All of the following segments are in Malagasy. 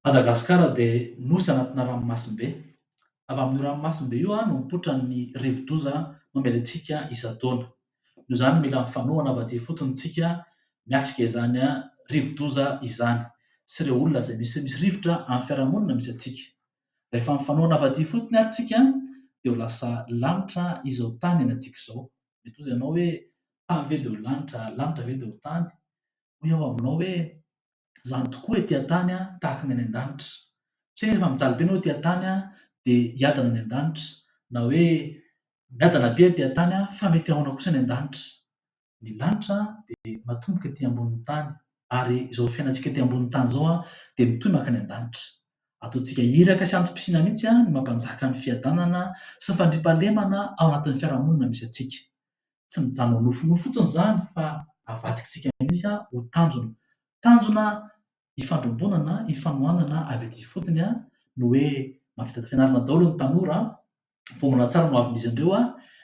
Madagasikara dia nosy anatina ranomasimbe. Avy amin'io ranomasimbe io no mipoitra ny rivodoza mamely antsika isan-taona. Noho izany mila mifanohana avy aty ifotony isika miatrika izany rivodoza izany sy ireo olona izay misy misy rivotra amin'ny fiarahamonina misy antsika. Rehefa mifanoa navadia fotony ary tsika dia ho lasa lanitra izao tany anantsika izao. Mety hozy ianao hoe, tany ve dia ho lanitra, lanitra ve dia ho tany? Hoy aho aminao hoe, izany tokoa ety an-tany tahaka ny any an-danitra. Tsy hoe rehefa mijaly be ianao ety an-tany dia hiadana any an-danitra, na hoe miadana be ety an-tany fa mety haona kosa any an-danitra. ny lanitra dia matomboka ety ambonin'ny tany ary izao fiainantsika ety ambonin'ny tany izao dia mitohy mankany an-danitra. Ataontsika iraka sy antom-pisiana mihitsy ny maha mpanjaka ny fiadanana sy ny fandriampahalemana ao anatin'ny fiarahamonina misy antsika. Tsy mijanona ho nofinofy fotsiny izany fa avadikitsika mihitsy ho tanjona. Tanjona ifandrombona na ifanohanana avy aty ifotony a, ny hoe mahavita fianarana daholo ny tanora a, voambolana tsara no avin'izy ireo a,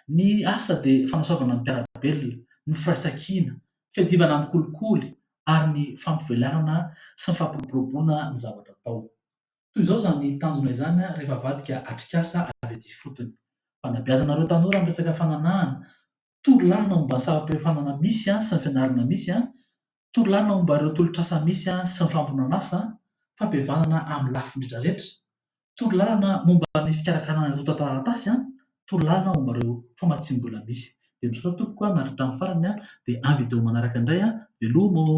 ny asa dia fanasoavana ny mpiara-belona, ny firaisan-kina, fiadivana amin'ny kolikoly ary ny fampivelarana sy ny fampiroboroboana ny zavatra atao. Toy izao izany tanjona izany rehefa avadika atrikasa avy aty ifotony. Fanabeazana ireo tanora amin'ny resaka fananahana, Tory lalina momba ny saram-piofanana misy sy ny fianarana misy, tory lalina momba ireo tolotr'asa misy sy ny fampihomanan'asa, fampihavanana amin'ny lafiny rehetrarehetra, tory lalana momba ny fikarakarana ny antontan-taratasy, tory lalana momba ireo famatsiam-bola misy. Dia misaotra tompoko an, naharitra hatramin'ny farany dia amin'ny video manaraka indray an, veloma ô!